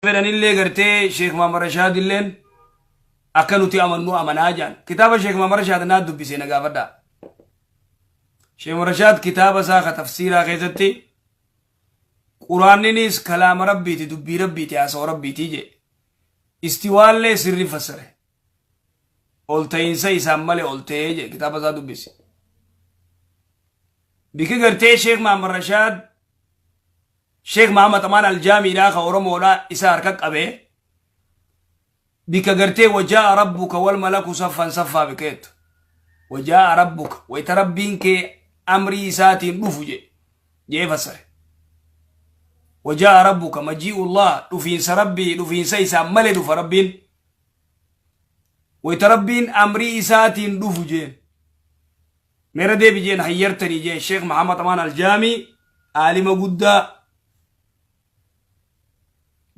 fedhanillee gartee sheek maamar rashaadilleen akka nuti amannu amanaa jaan kitaaba sheek maamar rashaad naa dubbise na gaafadhaa sheek maamar rashaad kitaaba isaa ka tafsiiraa keessatti quraanninis kalaama rabbiiti dubbii rabbiiti haasawa rabbiiti jee istiwaallee sirri fassare ol ta'iinsa isaan malee ol ta'ee jee kitaaba isaa dubbise biki gartee sheek maamar rashaad Sheikh Mahammad Amaan Aljaamiidhaa ka Oromoodhaa isa harka qabe bikka gartee wajaa'a rabbuka wal malaku saffan saffaa bikka jettu wajaa'a rabbuka wayita rabbiin kee amrii isaatiin dhufu je jee fassare wajaa'a rabbuka majii'ullah dhufiinsa rabbii dhufiinsa isaan malee dhufa rabbiin wayita rabbiin amrii isaatiin dhufu jeen Mee irra deebi jeen hayyartanii jeen sheekh Muhammad Amaan Aljaami aalima guddaa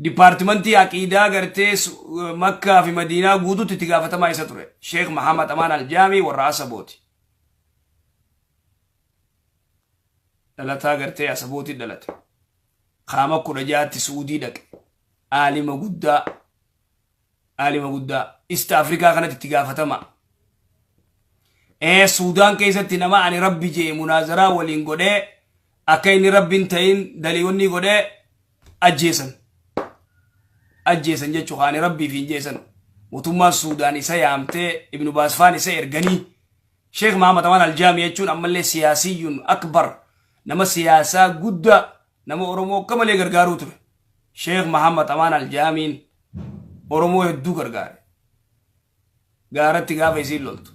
dipaartimantii aqiidaa gartee makkaa fi madiinaa guututti itti gaafatamaa isa ture sheekh Muhammad Amaan Aljaami warra asabooti. Dhalataa gartee asabooti dhalate. Kaama kudha jaatti suudii dhaqe. Aalima guddaa Aalima guddaa East Africa kanatti itti gaafatama. Ee Suudaan keessatti nama ani rabbi jee munaazaraa waliin godhee akka inni rabbi hin ta'in daliiwwannii godhee ajjeesan. Ajjeesan jechuu ani rabbiif hin jeesan. Mootummaan Suudaan isa yaamtee Ibnu Baasfaan isa erganii Sheekh Mahamad Amaan Aljaami jechuun ammallee siyaasiyyuun akbar nama siyaasaa guddaa nama Oromoo akka malee gargaaruu ture. Sheekh Mahamad Amaan Aljaamiin Oromoo hedduu gargaare. Gaaratti gaafa isiin loltu.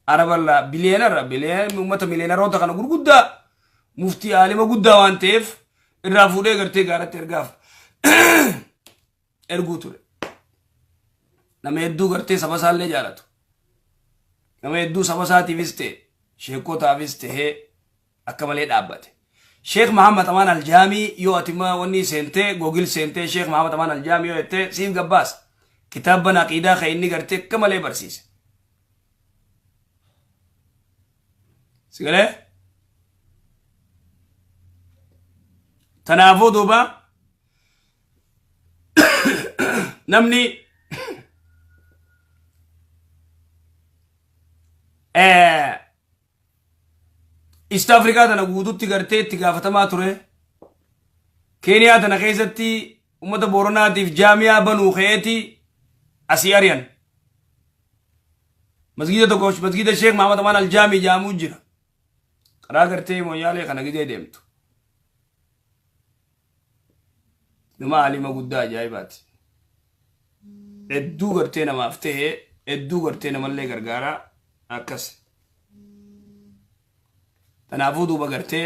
Arabarraa biliyeenarra biliyeen uummata miliyeenaroota kana gurguddaa muftii aalima guddaa waan ta'eef irraa fuudhee gartee gaaratti ergaaf erguu ture. Nama hedduu gartee saba isaallee jaalatu. Nama hedduu saba isaatiifis ta'e sheekotaafis ta'ee akka malee dhaabbate. Sheekh Mahammad Amaan Aljaamii yoo ati ma wanni seentee googil seentee Sheekh Mahammad Amaan Aljaamii yoo jettee siif gabbaasa. Kitaabban aqiidaa kan inni gartee akka malee barsiise. Sigalee? Kanaafuu duuba namni eh, East Africa tana guututti gartee itti gaafatamaa ture. Keeniyaa tana keessatti uummata Booranaatiif jaamiyaa banuu ka'eeti asii ari'an. Masgiida tokko masgiida Sheek Mahamad Amaan Aljaamii jedhamu jira. Karaa gartee mooyyaalee kana gizee deemtu. Nama alima guddaa ajaa'ibaati. Hedduu gartee namaaf ta'e, hedduu gartee namallee gargaara akkas. Kanaafuu duuba gartee